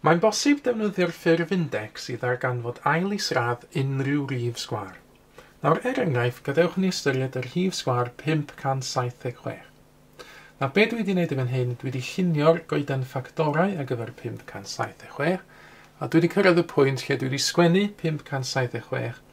Mae'n bosib defnyddio'r ffurf index i ddarganfod ail isradd unrhyw rif sgwâr. Nawr, er enghraifft, gadewch ni ystyried y rhif sgwâr 576. Na be dwi wedi wneud i fan hyn, dwi wedi llunio'r goeden ffactorau ar gyfer 576, a dwi wedi cyrraedd y pwynt lle dwi wedi sgwennu 576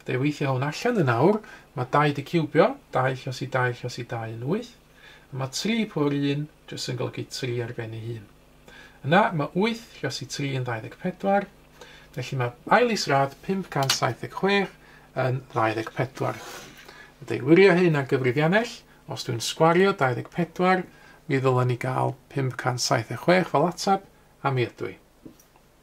Fydda i weithio hwn allan yn awr, mae dau di ciwbio, dau llos i dau llos i dau yn wyth, a mae tri pwr i un jyst yn golygu tri ar ben ei hun. Yna mae wyth llos i tri yn 24, felly mae ail isradd 576 yn 24. A deilwirio hyn ar gyfrifiannell, os dwi'n sgwario 24, mi ddylen ni gael 576 fel atab, a mi ydw i.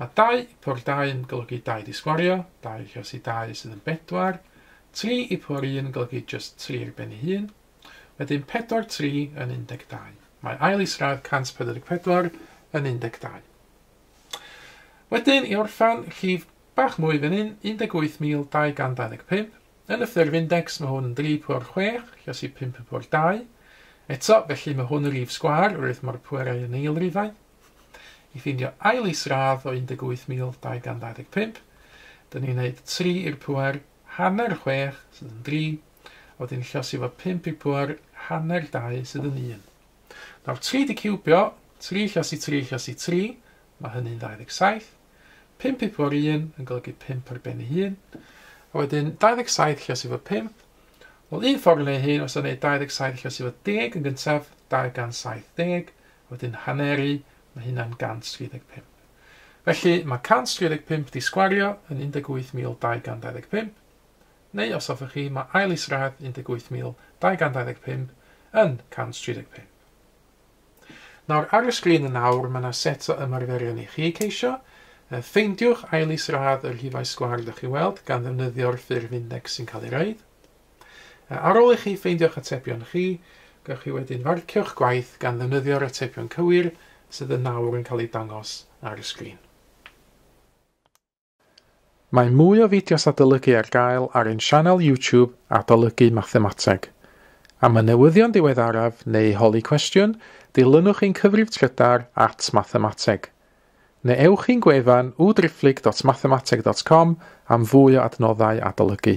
Mae dau i pwr dau yn golygu dau di sgwario, dau i rhosi dau sydd yn bedwar, tri i pwr un yn golygu jyst tri ar ben ei hun. Wedyn pedwar tri yn 12. Mae ail isradd 144 yn 12. Wedyn i orffan rhif bach mwy fan hyn, 18225. Yn y ffurf index mae hwn yn 3 pwr 6, rhosi 5 yn pwr 2. Eto, felly mae hwn yn rif sgwar, rwydd mae'r pwerau yn eilrifau. i ffindio ail is-radd o 18,225, dyn ni'n neud tri i'r pŵer, hanner chwech, sydd yn dri, a wedyn llosi fo pump i'r pŵer, hanner dau, sydd yn un. Nawr tri di ciwbio, tri llosi tri llosi tri, mae hynny'n 27, pump i'r pŵer un yn golygu pump ar ben ei hun, a wedyn 27 llosi fo pump, wel un ffordd yn ei hun os o'n neud 27 llosi fo deg yn gyntaf, 270, a wedyn haneru, mae hynna'n 135. Felly mae 135 di sgwario yn 18,225, neu os hoffech chi, mae ail isradd 18,225 yn 135. Nawr ar y sgrin yn awr mae yna set o ymarferion i chi ceisio, Ffeindiwch ail isradd yr hifau sgwar dych chi weld gan ddefnyddio'r ffurf index sy'n cael ei roed. Ar ôl i chi ffeindio'ch atebion chi, gallwch chi wedyn farcio'ch gwaith gan ddefnyddio'r atebion cywir sydd yn awr yn cael eu dangos ar y sgrin. Mae mwy o fideos adolygu ar gael ar ein sianel YouTube Adolygu Mathemateg. Am y newyddion diweddaraf neu holi cwestiwn, dilynwch ein cyfrif trydar at Mathemateg. Neu ewch i'n gwefan www.driphlyg.mathemateg.com am fwy o adnoddau adolygu.